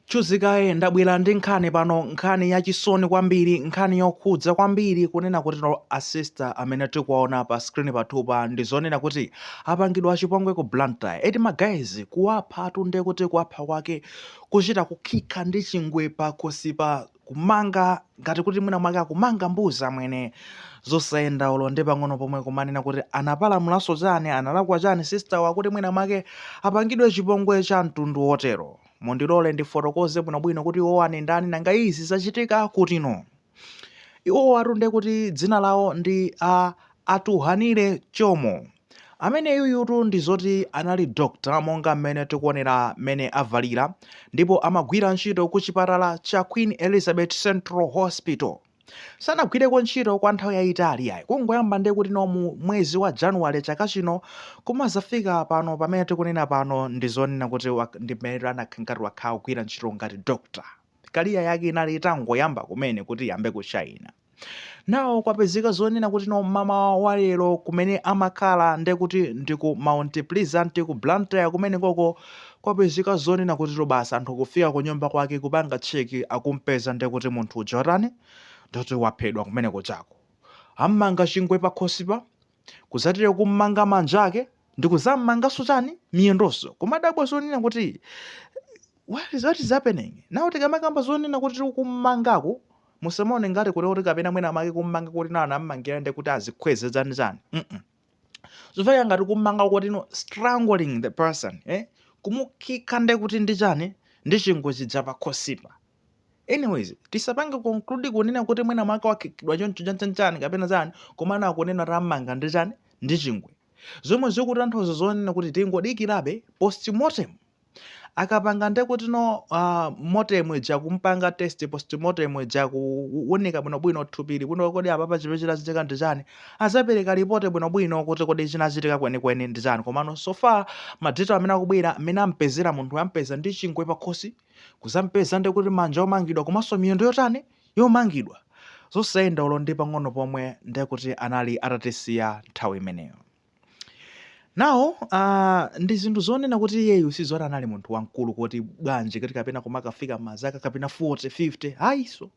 Chuzi kaye ndabwera ndi nkhani pano nkhani ya chisoni kwambiri nkhani yokhudza kwambiri kunena kutino a sister amene tikuwaona pa screen pathupa ndi zonena kuti apangidwa chipongwe ku Blantyre eti ma guys kuwaphatu nde kuti kuwapha kwake kuchita kukhikha ndi chingwe pa khosi pa kumanga ngati kuti mwina mwake akumanga mbuzi amwene zosayenda ulo ndi pang'ono pomwe kumanena kuti anapalamulanso chani analakwa chani sister wa kuti mwina mwake apangidwe chipongwe cha mtundu wotero mundilole ndifotokoze bwinobwino kuti iwo ani ndani nanga izi zachitika kutino iwowatu nde kuti dzina lawo ndi a Atughanile Chomo Ameneyuyutu ndi zoti anali doctor monga mmene tikuonera mmene avalira ndipo amagwira ntchito ku chipatala cha Queen Elizabeth Central Hospital. Sanagwireko ntchito kwa nthawi yayitali yayi kungoyamba nde kuti no mu mwezi wa January chaka chino kumazafika pano pamene tikunena pano ndi zonena kuti wak ndi mmene anakhala ngati wakhala akugwira ntchito ngati doctor career yake inali itangoyamba kumene kuti iyambe kushaina. Now kwapezeka zonena kuti no mamawa wa lero kumene amakhala nde kuti ndi ku Mount Pleasant ku Blantyre kumene koko kwapezeka zonena kuti no basi anthu kufika ku nyumba kwake kupanga check akumpeza nde kuti munthu uja watani ndoti waphedwa kumene kuchako ammanga chingwe pakhosipa kudzatiye kummanga manja ake ndi kudzammanganso chani miyendonso kumadabwa zonena kuti what is, what is happening nawo tikamakamba zonena kuti kummangako musamaone ngati kuti kuti kapena mwina mwake kummanga kuti nawo anammangira ndi kuti azikhweze chani chani mm -mm. zofika ngati kummanga kuti no strangling the person eh? kumukhika ndi kuti ndi chani ndi chingwe chija pakhosipa anyways tisapange conclude kunena kuti mwina mwake wakhikidwa choncho chanchanchani kapena chani komano akunena kuti ammanga ndi chani ndi chingwe zomwe zikutanthauza zonena kuti tingodikirabe postmortem akapanga nde kuti no uh, motem ija kumpanga test postmortem ija kuunika bwinobwino thupili kuti kodi apapa chimene chinachitika ndi chani azapereka ripoti bwinobwino kuti kodi chinachitika kwenikweni ndi chani komano so far ma details amene akubwera amene ampezera munthu ampeza ndi chingwe pakhosi kuzampeza ndi kuti manja omangidwa komanso miyendo yotani yomangidwa zosayenda ulo ndi pang'ono pomwe ndi kuti anali atatisiya nthawi imeneyo nawo uh, ndi zinthu zonena kuti iyeyu sizoti anali munthu wamkulu kuti bwanji kuti kapena kumakafika mazaka kapena 40 50 ayi so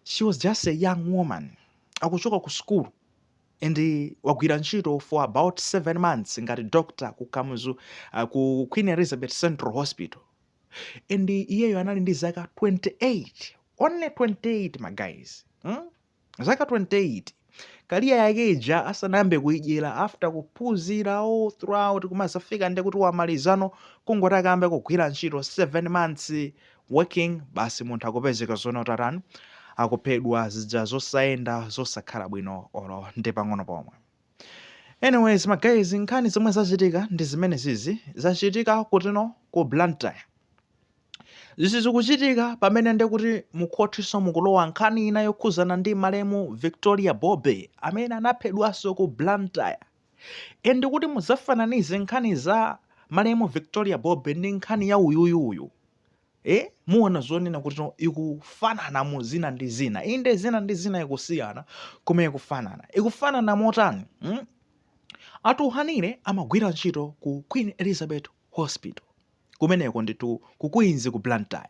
she was just a young woman akuchoka ku sukulu and wagwira ntchito for about 7 months ngati doctor ku Kamuzu uh, ku Queen Elizabeth Central Hospital and iyeyo anali ndi zaka 28 only 28 ma guys hmm? zaka 28 kaliya yake ija asanayambe kuidyera after kuphunzira all throughout kumazafika ndi kuti wamalizano kungoti akayambe kugwira ntchito 7 months working basi munthu akupezeka zoona kuti atani akuphedwa zija zosayenda zosakhala bwino olo ndi pang'ono pomwe anyways ma guys nkhani zomwe zachitika ndi zimene zizi zachitika kutino ku blantyre izi zikuchitika pamene ndekuti mukhotiso mukulowa nkhani ina yokhuzana ndi malemu victoria bobe amene anaphedwanso ku blantyre e Ndikuti mudzafananize nkhani za malemu Victoria Bobe ndi nkhani ya uyuyuyu e Muona zonena kuti ikufanana mu zina ndi zina, inde zina ndi zina ikusiyana koma ikufanana. Ikufanana motani? Hmm? Atuhanire amagwira ntchito ku Queen Elizabeth hospital kumeneko nditu ku queens ku blantyre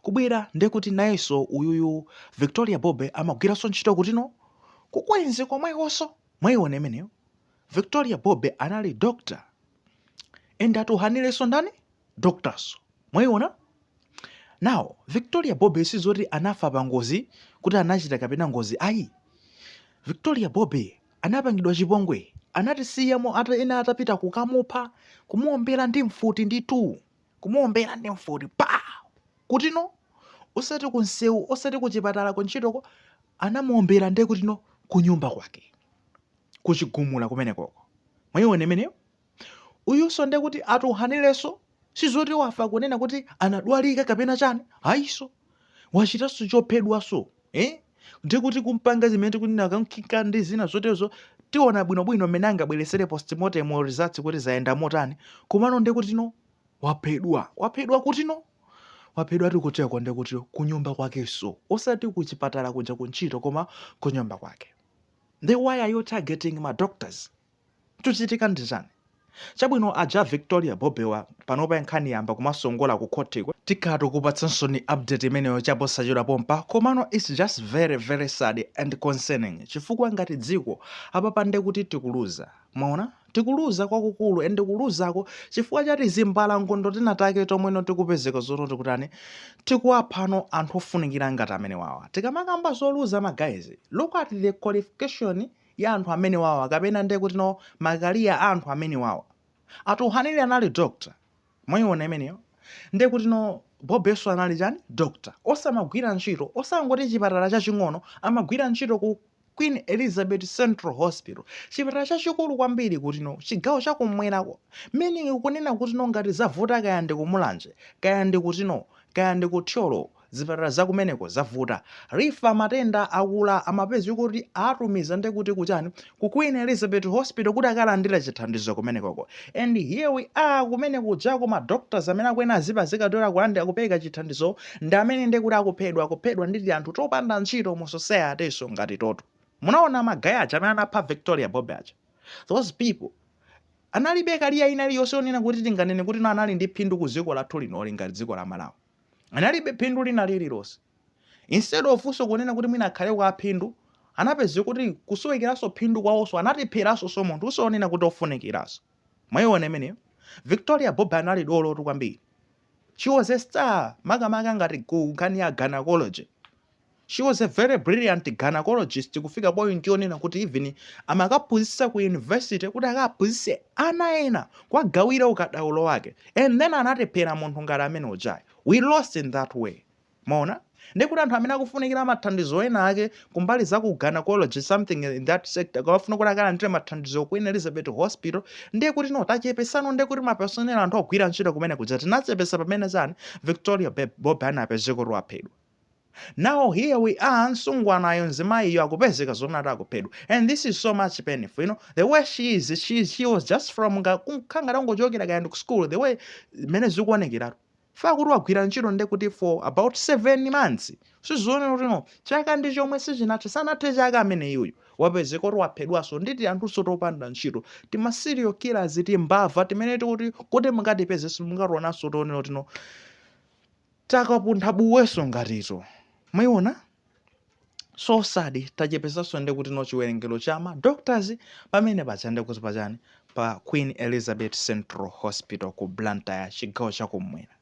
kubwera ndekuti nayeso uyuyu victoria bobe amagwiraso ntchito kutino ku queens komwekoso mwaiona imeneyo victoria bobe anali doctor and atuhanileso ndani doctorso mwaiona now victoria bobe sizoti anafa pa ngozi kuti anachita kapena ngozi ayi victoria bobe Anapangidwa chipongwe, anatisiyamo ena atapita kukamupha, kumuwombera ndi mfuti nditu, kumuwombera ndi mfuti pa! Kutino? Osati ku msewu, osati ku chipatala, kuntchitoko, anamuwombera nde kutino? Kunyumba kwake, ku chigumula kumenekoko. Mwaiona imeneyo? uyuso ndekuti atuhanileso sizoti wafa kunena kuti anadwalika kapena chani ayiso wachitaso chophedwaso eh? ndikuti kupanga zimene tikunena kankhika ndi zina zotezo tiona bwinobwino mmene angabweresere postmortem results kuti zayenda motani komano ndekutino waphedwa waphedwa kutino waphedwa tikuteko ndekutino kunyumba kwakeso osati kuchipatala kuja kuntchito koma kunyumba kwake nde why are you targeting ma doctors Chuchitika ndi chani? Chabwino aja a Victoria Bobewa panopa nkhani yayamba kumasongola ku court ko. Tikhala tikukupatsaninso update imeneyo chaposachedwa pompa, komano its just very very sad and concerning chifukwa ngati dziko apapa nde kuti tikuluza mwaona tikuluza kwakukulu and kuluzako chifukwa cha tizimbalangondo tinatake tomweno tikupezeka zoto tikutani tikuwaphano anthu ofunikira ngati amenewawa tikamakamba zoluza ma guys look at the qualification ya anthu amenewawa kapena ndiye kuti no ma career a anthu amenewawa a Tuhanili anali doctor mwayiona imeneyo ndiye kuti no Bobenso anali chani doctor osamagwira ntchito osangoti chipatala chaching'ono amagwira ntchito ku queen elizabeth central hospital chipatala chachikulu kwambiri kuti no chigawo chakumwerako meaning kunena kuti no ngati zavuta kaya ndi ku Mulanje kaya ndi kuti no kaya ndi ku thyolo zipatala zakumeneko zavuta refer matenda aakulu amapezeka kuti atumiza ndekuti kuchani ku queen elizabeth hospital kuti akalandile chithandizo kumenekoko and here we are kumene kujako ma doctors amene akuyenera azipezeka kuti akulandila kupereka chithandizowo ndi amene nde kuti akuphedwa akuphedwa ndi tianthu topanda ntchito mu society so ngati titero munaona ma guy aja amene anapha victoria bobe aja those people analibe career ina iliyonse yonena kuti tinganene kuti no anali ndi phindu ku dziko lathu linoli ngati dziko la malawi analibe phindu lina lililonse. Instead of so kunena kuti mwina akhaleko aphindu, anapezeka kuti kusowekeranso phindu kwawonso anatipheranso so munthu so wonena kuti ofunikiranso. Mwaiona imeneyo? Victoria Bobe anali dolo tu kwambiri. She was a star makamaka ngati ku nkhani ya gynecology. She was a very brilliant gynaecologist kufika point yonena kuti even amakaphunzitsa ku university kuti akaphunzitse ana ena kuwagawira ukadaulo wake and then anatiphera munthu ngati amene uja we lost in that way mwaona ndekuti anthu amene akufunikira mathandizo ena ake kumbali za ku gynecology something in that sector akafuna kuti akalandire mathandizo ku Elizabeth Hospital ndiye kuti no tachepetsano ndiye kuti ma personnel anthu ogwira ntchito kumene kuja tinachepetsa pamene chani Victoria Bobe anapezeka kuti waphedwa now here we are msungwanayo mzimayiyo akupezeka zoona kuti akuphedwa and this is so much painful you know the way she is she, is- she was just from nga- kukhala ngati angochokera kaya ndi ku school the way mmene zikuonekera for kuti wagwira ntchito nde kuti for about seven months zikuonetsa kuti no chaka ndi chomwe sichinathe sanathe chaka amene iyoyo wapezeka kuti waphedwanso ndi tianthunso topanda ntchito tima serial killers timbava timene kuti kuti mungatipeze simungationanso tionera kuti no takapuntha buyenso ngati to mwaiona so sad tachepetsanso nde kuti no chiwerengero chama doctors pamene paja nde kuti pachani pa queen elizabeth central hospital ku blantyre chigawo chakumwera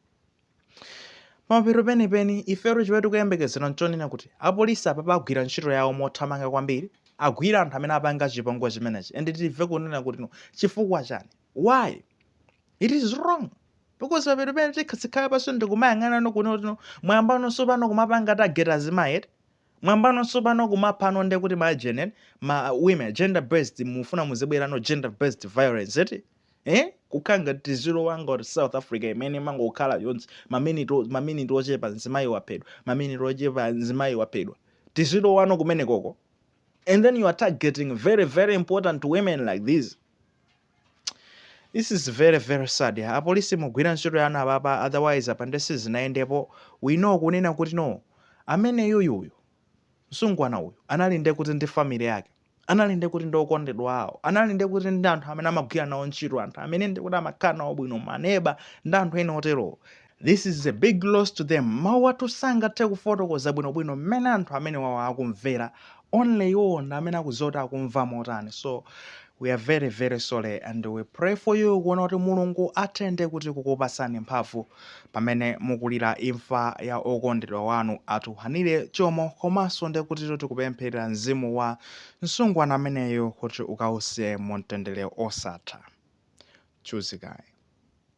pamapeto penipeni ifeyo chimene tikuyembekezera nchonena kuti apolisi apapa agwire ntchito yawo mothamanga kwambiri agwire anthu amene apanga chipongwe chimenechi and timve kunena kuti no chifukwa chani why it is wrong because pamapeto peni tikati tikhale pansi ndikumayang'ana no kuno kuti no mwayambanonso pano kumapanga targeta azimayi eti mwayambanonso pano kumapha no nde kuti ma genen ma women gender based mufuna muzibwera no gender based violence eti eh kukhala ngati tiziro wanga wa south africa imene mangokhala yonse maminiti o- maminiti ochepa mzimayi waphedwa maminiti ochepa mzimayi waphedwa tiziro wano kumene koko and then you are targeting very very important women like this this is very very sad apolisi mugwira ntchito yanu apapa otherwise apa nde sizinayendepo we know kunena kuti no amene yuyuyu msungwana uyu anali nde kuti ndi family yake anali nde kuti ndi okondedwa awo anali nde kuti ndi anthu amene amagwira nawo ntchito anthu amene ndi kuti amakhala nawo bwino maneba ndi anthu ena oterowo This is a big loss to them, mawu athu sangathe kufotokoza bwino bwino mmene anthu amenewawa akumvera, only iwowo ndi amene akudziwa kuti akumva motani, so we are very very sorry and we pray for you kunena kuti Mulungu athende kuti kukupatsani mphamvu pamene mukulira imfa ya okondedwa wanu a Thuhanire Jomo komanso ndi kuti tikupempherera mzimu wa msungwana ameneyu kuti ukause mu mtendere osatha. Chuzikayi.